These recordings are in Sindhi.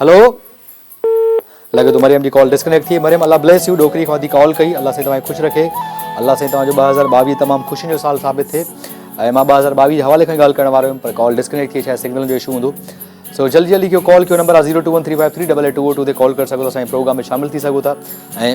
هلو لڳي ٿو مريم جي ڪال ڊسڪنيڪٽ ٿي مريم الله بليس يو ڏوڪري کان ٿي ڪال ڪئي الله سائين توهان کي خوش رکي الله سائين توهان جو ٻه هزار ٻاويهه تمام خوشين جو سال ثابت ٿئي ۽ مان ٻه هزار ٻاويهه جي حوالي کان ڳالهه ڪرڻ وارو هيم پر ڪال ڊسڪنيڪٽ ٿي شايد سگنل جو اشو هوندو سو جلدي جلدي ڪيو ڪال ڪيو نمبر آ zero two one three five three double eight two O two تي ڪال ڪري سگهو ٿا سائين پروگرام ۾ شامل ٿي سگهو ٿا ۽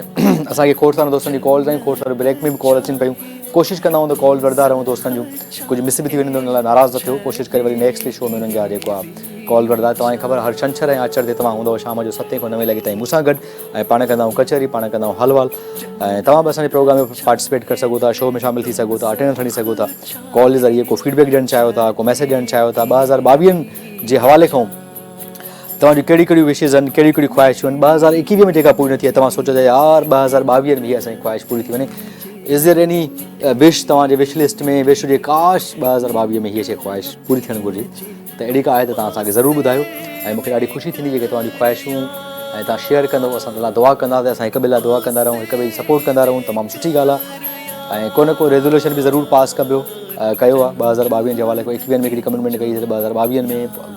اسان کي کوڙ سارا دوستن جي ڪالز آيون کوڙ سارا بريڪ ۾ به ڪال اچن پيون ڪوشش ڪندا آهيون ته ڪالز وٺندا رهون دوستن جون ڪجهه مس به ٿي وڃن ته ان لاء ناراض نه ٿيو ڪوشش ڪري وري نيڪسٽ شو ۾ انهن جا جيڪو آهي ڪالز وٺندا توهان کي خبر هر ڇنڇر ۽ آچر تي توهان هوندؤ شام جو ستين کان نوين لڳي تائين مون سان گڏ ۽ پاڻ ڪندا آهيون ڪچهري پاڻ ڪندا آهيون حال وال ۽ توهان به اسان جي پروگرام ۾ پارٽيسپيٽ ڪري سگهو ٿا شو ۾ شامل ٿي سگهو ٿا اٽينڊنس کڻي سگهو ٿا ڪال جي ذريعي ڪو فيڊبيڪ ڏيڻ چاهيو ٿا ڪو ميسيج ڏيڻ چاهيو ٿا ٻه هزار ٻاويهن جي حوالي کان توهان جون ڪهڙيون ڪهڙيون وشز آهن، ڪهڙيون ڪهڙيون خواهشون آهن، ٻه هزار ايڪيويهه ۾ جيڪا پوري نه ٿي آهي توهان سوچيو ته يار ٻه هزار ٻاويهه ۾ هيء اسان جي خواهش پوري ٿي وڃي. از ديئر ايني وش توهان جي وش لسٽ ۾ وش هجي ڪاش ٻه هزار ٻاويهه ۾ هيء شيء خواهش پوري ٿيڻ گهرجي ته اهڙي ڪا آهي ته توهان اسان کي ضرور ٻڌايو ۽ مون کي ڏاڍي خوشي ٿيندي جيڪي توهان جون خواهشون ۽ توهان شيئر ڪندو اسان تنهن لاء دعا ڪنداسين اسان هڪ ٻئي لاء دعا ڪندا رهون هڪ ٻئي جي سپورٽ ڪندا رهون تمام سٺي ڳالهه آهي ۽ ڪو نه ڪو ريزولوشن به ضرور پاس ڪبو ڪيو آهي ٻه هزار ٻاويهه جي حوالي ڪو ايڪيويهه ۾ هڪڙي ڪمٽمينٽ ڪئي هئي ته ٻه هزار ٻاويهه ۾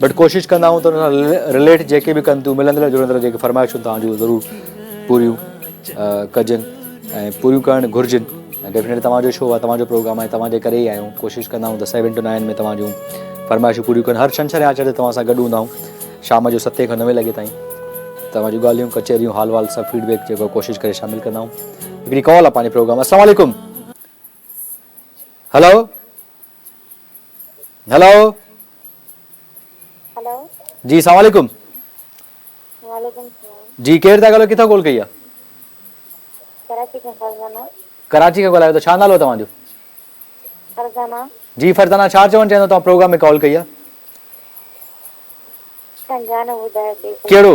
بٽ ڪوشش ڪندا آهيون ته ان سان رليٽ جيڪي به ڪن ٿيون ملندڙ جلندڙ جيڪي فرمائشون تان جو ضرور پوريون ڪجن ۽ پوريون ڪرڻ گهرجن ۽ ڊيفينيٽلي تمام شو آهي تمام پروگرام آهي تمام ڪري ئي آهيون ڪوشش ڪندا آهيون ته سيون ٽو نائن ۾ تمام جون فرمائشون پوريون ڪن هر شنشر آچر تي تمام سان گڏ هوندا آهيون شام جو ستين کان نوين لڳي تائين تمام جون ڳالهيون ڪچهريون حال وال سڀ فيڊبيڪ جيڪو ڪوشش ڪري شامل ڪندا آهيون هڪڙي ڪال آهي پنهنجي پروگرام السلام علیکم هلو هلو هلو جي السلام عليڪم وعليڪم السلام جي ڪير ٿا ڳالهايو ڪٿان ڪال ڪئي آهي ڪراچي کان فرزانه ڪراچي کان ڳالهايو ٿا ڇا نالو توهان جو فرزانه جي فرزانه ڇا چوڻ چاهيندو توهان پروگرام ۾ ڪال ڪئي آهي ڪهڙو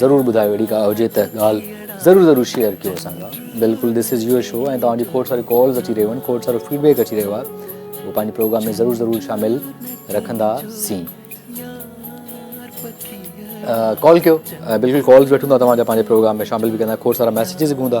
ضرور ٻڌايو اهڙي ڪا هجي ته ڳالهه ضرور ضرور شيئر ڪيو اسان سان بلڪل دس از يور شو ۽ توهان جي کوڙ ساريون ڪالز اچي رهيون آهن کوڙ سارو فيڊبيڪ اچي رهيو آهي اهو پنهنجي پروگرام ۾ ضرور ضرور شامل رکندا سين ڪال ڪيو بلڪل ڪالز وٺون ٿا توهان جا پنهنجي پروگرام ۾ شامل به ڪندا کوڙ سارا ميسيجز به هوندا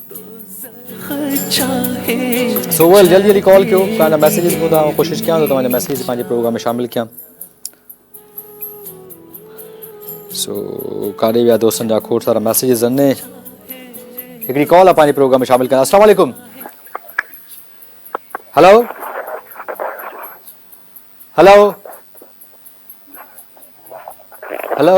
سو ويل جلدي جلدي ڪال ڪيو توهان جا ميسيجز ٻڌان آئون ڪوشش ڪيان ٿو توهان جا ميسيجز پنهنجي پروگرام ۾ شامل ڪيان سو ڪاڏي ويا دوستن جا کوٽ سارا ميسيجز ان هڪڙي ڪال آ پنهنجي پروگرام ۾ شامل ڪيان السلام عليڪم هلو هلو هلو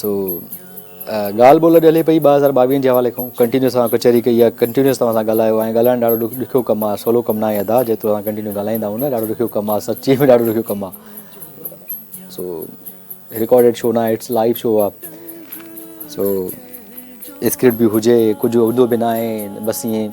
سو ڳالهه ٻولهه اڄ هلي پئي ٻه هزار ٻاويهن جي حوالي کان ڪنٽينيوس اسان ڪچهري ڪئي آهي ڪنٽينيوس توهان سان ڳالهايو آهي ڳالهائڻ ڏاڍو ڏک ڏکيو ڪم آهي سولو ڪم ناهي ادا جي توهان ڪنٽينيو ڳالهائيندا آهيو نه ڏاڍو ڏکيو ڪم آهي سچي ۾ ڏاڍو ڏکيو ڪم آهي سو رڪارڊيڊ شو ناهي اٽس لائيو شو آهي سو اسڪرپٽ به هجي ڪجهه هوندو به ناهي بس ائين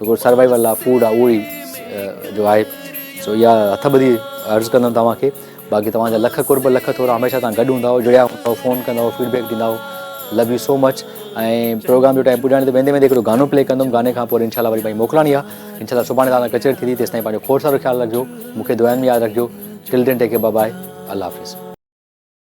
جيڪو سروائيول لاء فوڊ آهي اهو ئي جو آهي سو اها هٿ ٻڌي عرض ڪندم توهان کي باقي توهان جا لک قرب لک ٿورا هميشه تان گڏ هوندا جڙيا هوندا فون ڪندا فيڊبيڪ ڏيندا love you so much ۽ programme جو ٽائم پڄاڻي ته ويندي ويندي هڪڙو گانو پلي ڪندم گاني کان پوء انشاءالله وري پنهنجي موڪلاڻي آهي انشاءالله سڀاڻي تان ڪچهري ٿيندي تيستائين پنهنجو کوڙ سارو خيال رکجو مونکي دعائن ۾ ياد رکجو ٽل دين ٽيڪ بابا الله حافظ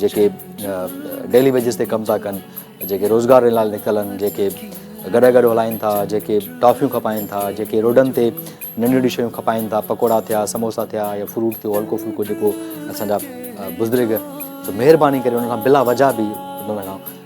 جيڪي ڊيلي ويجز تي ڪم ٿا ڪن، جيڪي روزگار لاء نڪتل آهن، جيڪي گڏهه گڏهه هلائين ٿا، جيڪي ٽافيون کپائين ٿا، جيڪي روڊن تي ننڍيون ننڍيون شيون کپائين ٿا، پڪوڙا ٿيا، سموسا ٿيا يا فروٽ ٿيو، هلڪو ڦلڪو جيڪو اسان جا بزرگ مهرباني ڪري انهن کان بلا وجهه به انهن کان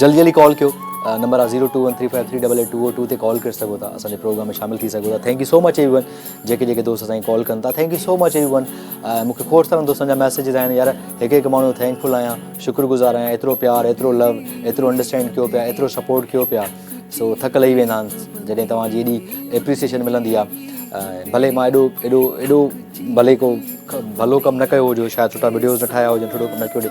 جلدي جلدي ڪال ڪيو نمبر آهي zero two one three five three double eight two O two تي ڪال ڪري سگهو ٿا اسان جي پروگرام ۾ شامل ٿي سگهو ٿا thank you so much everyone جيڪي جيڪي دوست اسان کي ڪال ڪن ٿا thank you so much everyone مون کي کوڙ سارن دوستن جا ميسيجز آيا آهن يار هڪ هڪ ماڻهو ٿينڪ فل آهيان شڪر گذار آهيان ايترو پيار ايترو لو ايترو انڊرسٽينڊ ڪيو پيا ايترو سپورٽ ڪيو پيا سو ٿڪ لهي ويندا آهن جڏهن توهان جي ايڏي ايپريسيشن ملندي آهي ڀلي مان ايڏو ايڏو ايڏو ڀلي کو ڀلو ڪم نه ڪيو هجو شايد سٺا ويڊيوز نه ٺاهيا هجن سٺو ڪم نه ڪيو هجي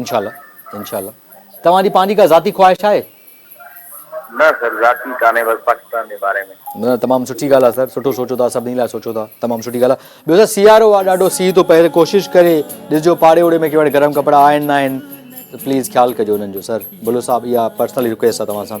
انشاء الله انشاء الله توهان جي پنهنجي ڪا ذاتي خواهش آهي. نه سر ذاتي ڪانهي بس پاڪستان جي باري ۾. نه تمام سٺي ڳالهه آهي سر سٺو سوچو ٿا سڀني لاء سوچو ٿا تمام سٺي ڳالهه آهي ٻيو سر سيارو آهي ڏاڍو سيء ٿو پهري ڪوشش ڪري ڏسجو پاڙي اوڙي ۾ ڪهڙا گرم ڪپڙا آهن نه آهن پليز خيال ڪجو انهن جو سر بلو صاحب اها پرسنل رڪويسٽ آهي توهان سان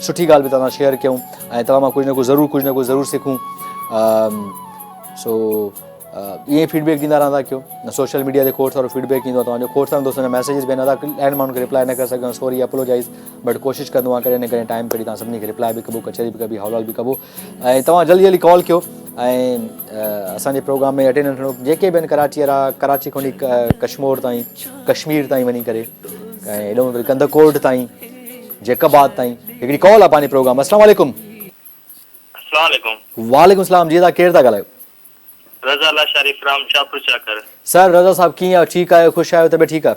سٺي ڳالهه به توهان سان شيئر ڪيون ۽ توهان مان ڪجهه نه ڪجهه ضرور ڪجهه نه ڪجهه ضرور سکون سو ائين ئي فيڊبيڪ ڏيندا رهندا ڪيو سوشل ميڊيا تي کوڙ سارو فيڊبيڪ ڏيندو آهيان توهان جو کوڙ سارن دوستن جا ميسيجز به آهن ادا ڏهن ماڻهن کي ريپلائي نه ڪري سگهيو آهيان سوري اپلوجائز بٽ ڪوشش ڪندو آهيان ڪڏهن نه ڪڏهن ٽائم ڪڍي توهان سڀني کي ريپلائي به ڪبو ڪچهري به ڪبي حوال به ڪبو ۽ توهان جلدي جلدي ڪال ڪيو ۽ اسان جي پروگرام ۾ اٽينڊ ٿيڻو جيڪي به آهن ڪراچي وارا ڪراچي کان وٺي ڪشمور تائين ڪشمير تائين وڃي ڪري ۽ ايڏو ويل ڪندڪوٽ تائين جيڪب آباد تائين هڪڙي ڪال آهي پنهنجي پروگرام السلام عليڪم السلام عليڪم وعليڪم السلام جي تھا ڪير ٿا ڳالھايو رضا لاشاري فرام شاھپور چاڪر سر رضا صاحب ڪيئن آهيو ٺيڪ آهيو خوش آهيو طبيعت ٺيڪ آهي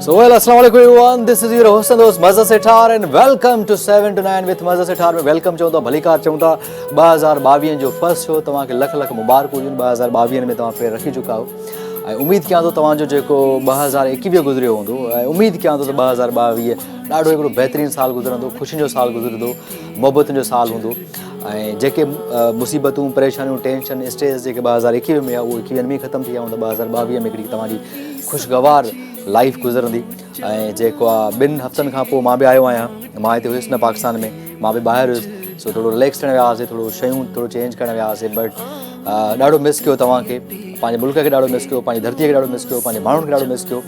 سوهيل السلام عليڪم ايوو آن دس از يور حسن دوست مزه سيٺار ان welcome to 7 to 9 with مزه Sethar ۾ welcome چون ٿا ڀليڪار چون ٿا 2022 جو فرسٽ شو توهان کي لک لک مبارڪون هجن 2022 ۾ توهان پير رکي چڪا آهو ۽ اميد ڪيان ٿو توهان جو جيڪو 2021 گذريو هوندو ۽ اميد ڪيان ٿو ته 2022 ڏاڍو هڪڙو بهترين سال گذرندو خوشين جو سال گذرندو محبتن جو سال هوندو ۽ جيڪي مصيبتون پريشانيون ٽينشن اسٽريس جيڪي 2021 ۾ هيا اهو ايڪويهن ۾ ختم ٿي ويا هوندا 2022 ۾ هڪڙي توهان جي خوشگوار لائيف گذرندي ۽ جيڪو آ ٻن هفتن کان پوء مان به آيو آهيان مان هتي هيس نه پاڪستان ۾ مان به ٻاهر هيس سو ٿورو رليڪس ٿيڻ ويا هئاسي ٿورو شيون ٿورو چينج ڪرڻ ويا هئاسي بٽ ڏاڍو مس ڪيو توهان کي پنهنجي ملڪ کي ڏاڍو مس ڪيو پنهنجي ڌرتي کي ڏاڍو مس ڪيو پنهنجي ماڻهن کي ڏاڍو مس ڪيو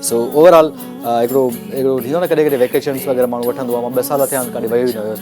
سو اوور آل هڪڙو هڪڙو ٿيندو نه ڪڏهن ڪڏهن ويڪيشنس وغيره ماڻهو وٺندو آهي مان ٻه سال ٿيا آهن ڪڏهن ويو ئي نه هيس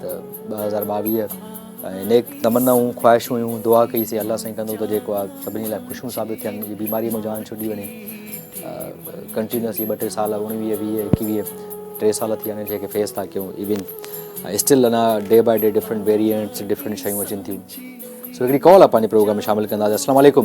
ته ٻه هزار ٻاويهه ۽ نيڪ تمنائون خواهشون هيون دعا ڪئي سي الله سائين ڪندو ته جيڪو آ سڀني لاء خوشيون ثابت ٿين جي بيماري مون جان ڇڏي وڃي ڪنٽينيوس ٻه ٽي سال اڻويهه ويهه ايڪيويهه ٽي سال ٿي هاڻي کي فيس ٿا ڪيون even still and day by day different variants different شيون اچن ٿيون سو هڪڙي ڪال آ پنهنجي پروگرام ۾ شامل ڪنداسي السلام عليڪم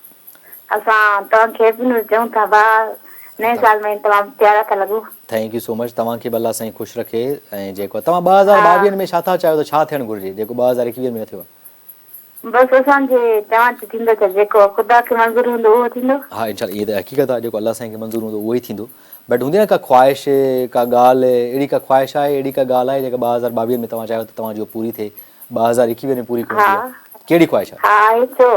اسان توهان کي به نور چئون ٿا ڀاء نئين سال ۾ تمام پيارا ٿا لڳو. ٿينڪ يو سو مچ توهان کي به الله سائين خوش رکي ۽ جيڪو توهان ٻه هزار ٻاويهن ۾ ڇا ٿا چاهيو ته ڇا ٿيڻ گهرجي جيڪو ٻه هزار ايڪويهن ۾ نه ٿيو آهي. بس اسان جي چوڻ تي ٿيندو ڇا جيڪو خدا کي منظور هوندو اهو ٿيندو. ها انشاء الله اها ته حقيقت آهي جيڪو الله سائين کي منظور هوندو اهو ئي ٿيندو بٽ هوندي نه ڪا خواهش ڪا ڳالهه اهڙي ڪا خواهش آهي اهڙي ڪا ڳالهه آهي جيڪا ٻه هزار ٻاويهن ۾ توهان چاهيو ته توهان جي اها پوري ٿئي ٻه هزار ايڪيويهه ۾ پوري ڪرڻ جي آهي ڪهڙي خواهش آهي؟ ها آهي ڇو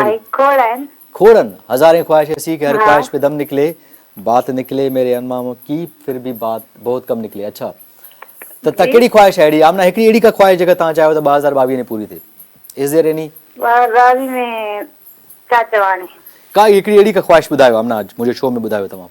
آهي کوڙ آهن. کوڙن هزارين خواهش ايسي ڪي هر خواهش پي دم نڪلي بات نڪلي ميري انمام ڪي فر بي بات بهت ڪم نڪلي اڇا ته ته ڪهڙي خواهش آهي اهڙي آمنا هڪڙي اهڙي ڪا خواهش جيڪا توهان چاهيو ته ٻه هزار ٻاويهه ۾ پوري ٿئي از ديئر ايني ٻه هزار ٻاويهه ۾ ڇا چوان هاڻي. ڪا هڪڙي اهڙي ڪا خواهش ٻڌايو آمنا منهنجو شو ۾ ٻڌايو توهان.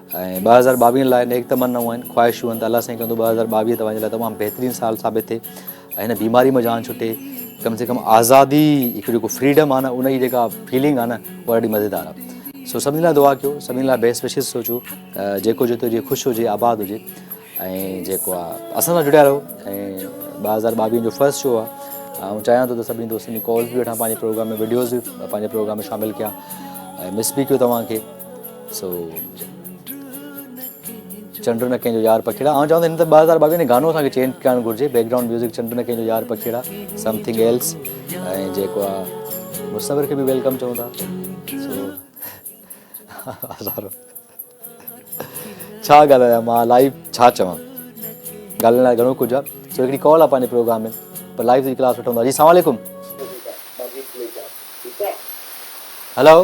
۽ ٻه هزار ٻاويهن لاء نيڪ تمنائون آهن خواهشون آهن ته الله سائين ڪندو ٻه هزار ٻاويهه توهان جي لاء تمام بهترين سال ثابت ٿئي ۽ هن بيماري مان جان ڇٽي ڪم سي ڪم آزادي هڪ جيڪو فريڊم آهي نه ان جي جيڪا فيلنگ آهي نه اها ڏاڍي مزيدار آهي سو سڀني لاء دعا ڪيو سڀني لاء بيس وشز سوچو جيڪو جتو جي خوش هجي آباد هجي ۽ جيڪو آ اسان سان جڙيا رهو ۽ ٻه هزار ٻاويهن جو فرسٽ شو آ آئون چاهيان ٿو ته سڀني دوستن جي ڪالز بي وٺان پنهنجي پروگرام ۾ ويڊيوز بي پنهنجي پروگرام ۾ شامل ڪيان ۽ مس بي ڪيو توهان کي سو چنڊ نه ڪنهن جو يار پکيڙا آئون چاهيان ٿو هن ته ٻه هزار ٻاويهه ۾ گانو اسان کي چينج ڪرڻ گهرجي بيڪ گراؤنڊ ميوزڪ چنڈ نه ڪنهن جو يار پکيڙا سم ٿنگ ايلس ۽ جيڪو آ مصور کي به ويلڪم چون ٿا سو هزارو ڇا ڳالهايان مان لائيو ڇا چوان ڳالهائڻ لاء گهڻو ڪجهه آهي سو هڪڙي ڪال آهي پنهنجي پروگرام ۾ پر لائيو جي ڪلاس وٺندو جي سلام عليڪم هلو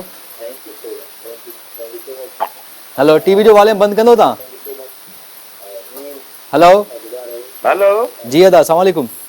هلو ٽي وي جو واليوم بند ڪندو تان هلو هلو جي ادا سلام عليڪم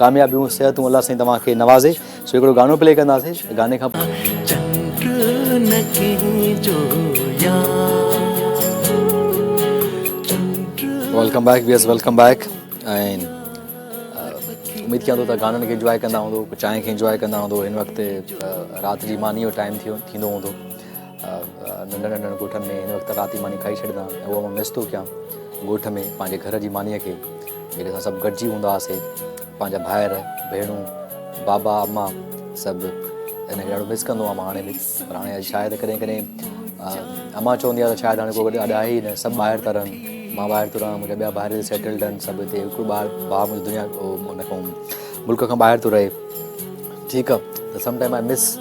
ڪاميابيون صحتون الله سائين توهان کي نوازي سو هڪڙو گانو پلي ڪنداسي گاني کان پوء چنڊ نه ڪنهن جو يار ويلڪم بيڪ ويس ويلڪم بيڪ ۽ اميد ڪيان ٿو ته گانن کي انجواء ڪندا هوندو چانهه کي انجواء ڪندا هوندو هن وقت رات جي ماني جو ٽائيم ٿيو ٿيندو هوندو ننڍن ننڍن ڳوٺن ۾ هن وقت رات جي ماني کائي ڇڏيندا ۽ اهو مان مس ٿو ڪيان ڳوٺ ۾ پنهنجي گهر جي مانيء کي جڏهن اسان سڀ گڏجي هوندا هئاسي پنهنجا ڀائر ڀيڻون بابا اما سڀ ان کي ڏاڍو مس ڪندو آهيان مان هاڻي به پر هاڻي شايد ڪڏهن ڪڏهن اما چوندي آهي ته شايد هاڻي ڪو گڏ اڏ آهي ئي نه سڀ ٻاهر ٿا رهن مان ٻاهر ٿو رهان منهنجا ٻيا ڀائر سيٽلڊ آهن سڀ هتي هڪڙو ٻار ڀاء منهنجو دنيا هو ان کان ملڪ کان ٻاهر ٿو رهي ٺيڪ آهي ته سم ٽائيم آء مس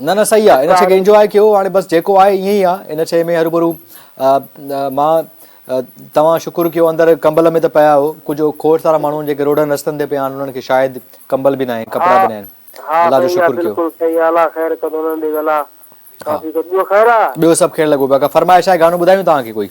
نه نه صحيح آ ان شئي کي انجواء ڪيو هاڻي بس جيڪو آهي ائين ئي آ ان شئي ۾ هروڀرو مان توهان شڪر ڪيو اندر ڪمبل ۾ ته پيا آهيو ڪجهه کوڙ سارا ماڻهو جيڪي روڊن رستن تي پيا آهن انهن کي شايد ڪمبل به ناهي ڪپڙا به ناهن الله جو شڪر ڪيو. ها ٻيو سڀ خير لڳو پيا ڪا فرمائش آهي گانو ٻڌايون توهان کي ڪوئي.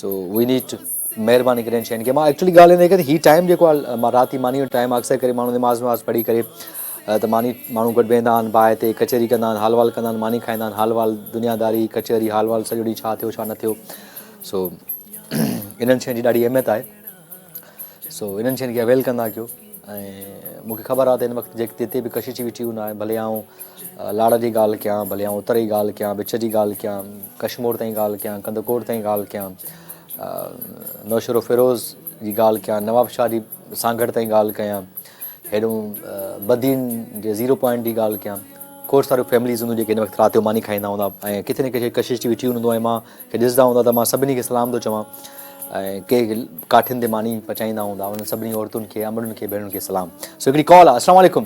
سو وي نيڊ ٽو مهرباني ڪري ان شين کي مان ايڪچولي ڳالهه هيندي ڪري هي ٽائيم جيڪو آهي مان رات جي ماني جو ٽائيم اڪثر ڪري ماڻهو نماز وماز پڙهي ڪري ته ماني ماڻهو گڏ ويهندا آهن باهه تي ڪچهري ڪندا آهن حال وال ڪندا آهن ماني کائيندا آهن حال وال دنيا داري ڪچهري حال وال سڄو ڏينهن ڇا ٿيو ڇا نه ٿيو سو انهن شين جي ڏاڍي اهميت آهي سو انهن شين کي اويل ڪندا ڪيو ۽ مون کي خبر آ ته هن وقت جتي به ڪشش ويٺي هو ناهي ڀلي آئون لاڙ جي ڳالهه ڪيان ڀلي آئون اتر جي ڳالهه ڪيان وچ جي ڳالهه ڪيان ڪشمور تائين ڳالهه ڪيان ڪندڪوٽ تائين ڳالهه ڪيان نوشهرو فيروز جي ڳالهه ڪيان نواب شاهه جي سانگهڙ تائين ڳالهه ڪيان هيڏهن بدين جي زيرو پوائنٽ جي ڳالهه ڪيان. کوڙ ساريون فيمليز هونديون جيڪي هن وقت رات جو ماني کائيندا هوندا ۽ ڪٿي نه ڪٿي ڪشش ٿي ويٺيون هونديون ۽ مان کي ڏسندا هوندا ته مان سڀني کي سلام ٿو چوان ۽ ڪي ڪاٺين تي ماني پچائيندا هوندا انهن سڀني عورتن کي امڙن کي ڀيڻن کي سلام سو هڪڙي ڪال آ اسلام عليڪم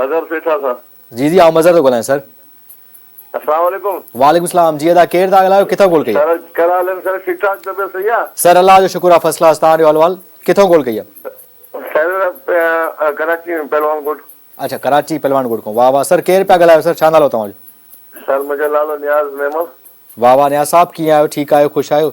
مظهر سيٺا سر جي جي آئون مظهر ٿو ڳالهايان سر. السلام عليڪم. وعليڪم السلام جي ادا ڪير ٿا ڳالهايو ڪٿو ڪول ڪئي. سر ڪهڙا حال آهن سر ٺيڪ ٺاڪ طبيعت صحيح آ. سر الله جو شڪر آ فرسٽ ڪلاس تهان جو احوال ڪٿو ڪول ڪئي آ. سر ڪراچي ۾ پهلوان ڳوٺ. اڇا ڪراچي پهلوان ڳوٺ کون واه واه سر ڪير پيا ڳالهايو سر ڇا نالو توهان جو. سر منهنجو نالو نياز ميمڻ. واه واه نياز صاحب ڪيئن آهيو ٺيڪ آهيو خوش آهيو.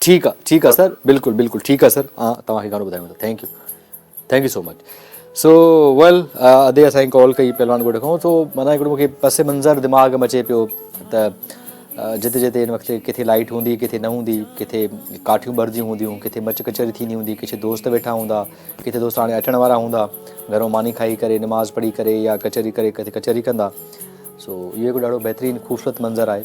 ٺيڪ آ ٺيڪ آ سر بلڪل بلڪل ٺيڪ آ سر آ توهان کي گهڻو ٻڌايون ٿا thank you thank you so much so well ادي اسان جي ڪال ڪئي پهلوان ڳوٺ کان سو مانا هڪڙو مونکي پس منظر دماغ ۾ اچي پيو ته جتي جتي هن وقت ڪٿي لائيٽ هوندي ڪٿي نه هوندي ڪٿي ڪاٺيون ٻرنديون هونديون ڪٿي مچ ڪچهري ٿيندي هوندي ڪٿي دوست ويٺا هوندا ڪٿي دوست هاڻي اچڻ وارا هوندا گهر مو ماني کائي ڪري نماز پڙهي ڪري يا ڪچهري ڪري ڪٿي ڪچهري ڪندا سو اهو هڪ ڏاڍو بهترين خوبصورت منظر آهي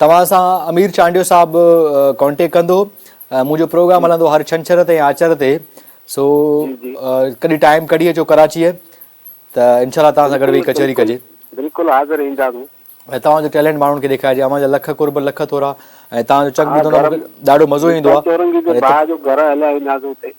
توهان سان امير چانڊيو صاحب ڪانٽيڪٽ ڪندو منهنجو پروگرام هلندو هر ڇنڇر تي آچر تي سو ڪڏهن ٽائيم ڪڍي اچو ڪراچي ته انشاء الله توهان سان گڏ ويهي ڪچهري ڪجي بلڪل حاضر اينداسون ۽ توهان جو ٽيلنٽ ماڻهن کي ڏيکارجي اوهان جا لک قرب لک ٿورا ۽ توهان جو چڪ ٻڌندو ڏاڍو مزو ايندو آهي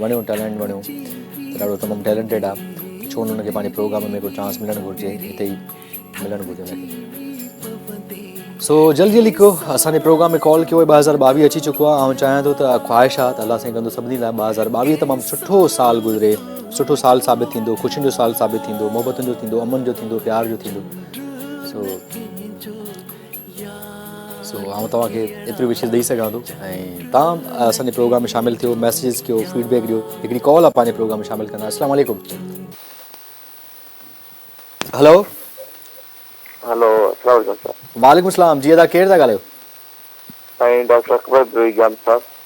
وڻيو ٽيلنٽ وڻيو ته ڏاڍو تمام ٽيلنٽيڊ آ ڇو نه ان کي پنهنجي پروگرام ۾ ڪو چانس ملڻ گهرجي هتي ئي ملڻ گهرجي ان کي سو جلدي جلدي ڪيو اسان جي پروگرام ۾ ڪال ڪيو ٻه هزار ٻاويهه اچي چڪو آ آئون چاهيان ٿو ته خواهش آ ته الله سائين ڪندو سڀني لاء ٻه هزار ٻاويهه تمام سٺو سال گذري سٺو سال ثابت ٿيندو خوشين جو سال ثابت ٿيندو محبتن جو ٿيندو امن جو ٿيندو پيار جو ٿيندو سو سو آئون توهان کي ايتري وشيز ڏئي سگهان ٿو ۽ توهان اسان جي پروگرام ۾ شامل ٿيو ميسيجز ڪيو فيڊ بيڪ ڏيو هڪڙي ڪال پنهنجي پروگرام ۾ شامل ڪندا السلام عليڪم هلو هلو السلام علیڪم وعليڪم السلام جي ادا ڪير ٿا ڳالهايو سائين ڊاڪٽر اڪبر جان صاحب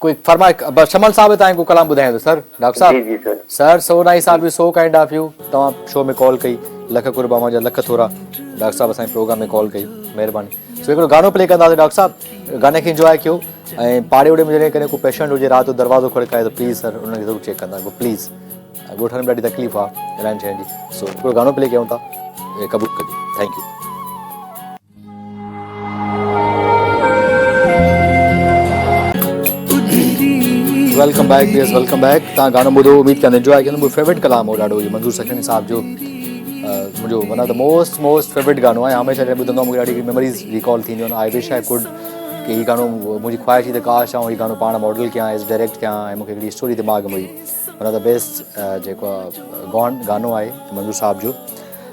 ڪوئي فرماء بس شمل صاحب تائين ڪو ڪلام ٻڌائين ته سر ڊاڪٽر صاحب جي جي سر سر سو نائي صاحب you so kind of you توهان شو ۾ ڪال ڪئي لک قرب اوهان جا لک ٿورا ڊاڪٽر صاحب اسان پروگرام ۾ ڪال ڪئي مهرباني سو هڪڙو گانو پلي ڪنداسي ڊاڪٽر صاحب گاني کي انجوائي ڪيو ۽ پاڙي وڙي ۾ جڏهن ڪڏهن ڪو پيشنٽ هجي رات جو دروازو کڙڪائي ته پليز سر انهن کي ضرور چيڪ ڪندا ڪيو پليز ڳوٺ ۾ ڏاڍي تڪليف آ رهڻ سهڻ جي سو هڪڙو گانو پلي ڪيون ٿا قبول ڪجو thank you welcome back viewers welcome back تان گانو ٻڌو اميد ڪيان انجوائي ڪيو مون فيورٽ ڪلام هو ڏاڍو هي منظور سکڻي صاحب جو منهنجو one of the most most favourite گانو آهي هميشه جڏهن ٻڌندو آهيان مونکي ڏاڍي ميموريز ريڪال ٿينديون آهن آئي وش آئي ڪوڊ ڪي هي گانو منهنجي خواهش هي ته ڪاش آئون هي گانو پاڻ ماڊل ڪيان ايز ڊائريڪٽ ڪيان ۽ مونکي هڪڙي اسٽوري دماغ ۾ هئي ون آف دا بيسٽ جيڪو گون گانو آهي منظور صاحب جو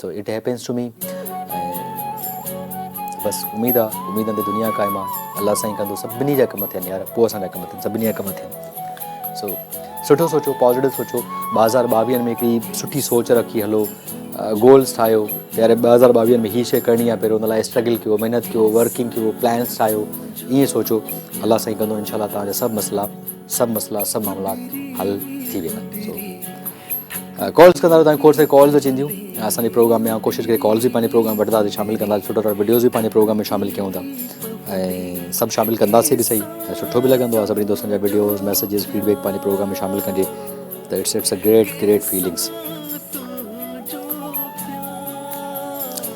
so it happiness to me ۽ بس اميد آ اميدن تي دنيا قائم آ الله سائين ڪندو سڀني جا ڪم ٿين يار پوء اسان جا ڪم ٿين سڀني جا ڪم ٿين سو سٺو سوچو پازيٽو سوچو ٻه هزار ٻاويهن ۾ هڪڙي سٺي سوچ رکي هلو گولس ٺاهيو يار ٻه هزار ٻاويهن ۾ هي شي ڪرڻي آ پهريو ان لاء اسٽرگل ڪيو محنت ڪيو ورڪنگ ڪيو پلانس ٺاهيو ائين سوچو الله سائين ڪندو انشاء الله توهان جا سڀ مسئلا سڀ مسئلا سڀ معاملات حل ٿي ويندا ڪالز ڪندا رهو تانکي کوڙ ساري ڪالز اچي وينديون ۽ اسان جي پروگرام ۾ ڪوشش ڪري ڪالز به پنهنجي پروگرام وٺندا ته شامل ڪندا سٺا سٺا وڊيوز به پنهنجي پروگرام ۾ شامل ڪيون ٿا ۽ سڀ شامل ڪنداسي به صحيح ۽ سٺو به لڳندو آهي سڀني دوستن جا وڊيوز ميسيجز فيڊبيڪ پنهنجي پروگرام ۾ شامل ڪجي ته it's it's a great great feelings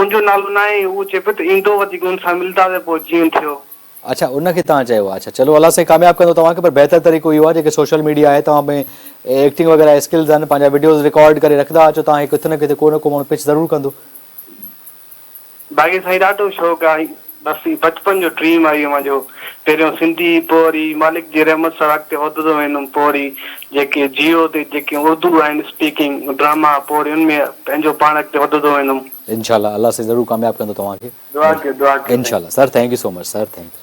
ان جو نالو ناهي هو چي پيو ته ايندو وڌيڪ ان سان ملدا ته پوء جيئن ٿيو. اڇا ان کي تان چيو اڇا چلو الله سائين ڪامياب ڪندو توهان کي پر بهتر طريقو اهو آهي جيڪي سوشل ميڊيا آهي توهان ۾ ايڪٽنگ وغيره اسڪلز آهن پنهنجا وڊيوز رڪارڊ ڪري رکندا اچو توهان کي ڪٿي نه ڪٿي ڪو نه ڪو ماڻهو پڇ ضرور ڪندو. باقي سائين ڏاڍو شوق آهي بس هي بچپن جو ڊريم آهي اوهان جو پهريون سنڌي پوء وري مالڪ جي رحمت سان اڳتي وڌندو ويندم پوء وري جيڪي جيو تي جيڪي اردو آهن اسپيڪنگ ڊراما پوء وري ان ۾ پنهنجو پاڻ اڳتي وڌندو ويندم. انشاء الله الله سائين ضرور ڪامياب ڪندو توهان کي دعا ڪيو دعا ڪيو سائين. انشاء الله sir thank you so much sir thank you.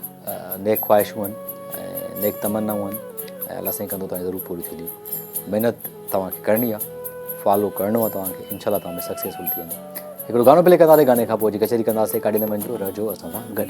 نيڪ خواهشون آهن ۽ نيڪ تمنائون آهن ۽ الله سائين ڪندو توهان جون ضرور پوريون ٿينديون محنت توهان کي ڪرڻي آهي فالو ڪرڻو آهي توهان کي انشاء الله توهان ۾ سڪسيسفل ٿي ويندو هڪڙو گانو پلي ڪنداسي گاني کان پوء جي ڪچهري ڪنداسي ڪاڏي نه وڃجو رهجو اسان سان گڏ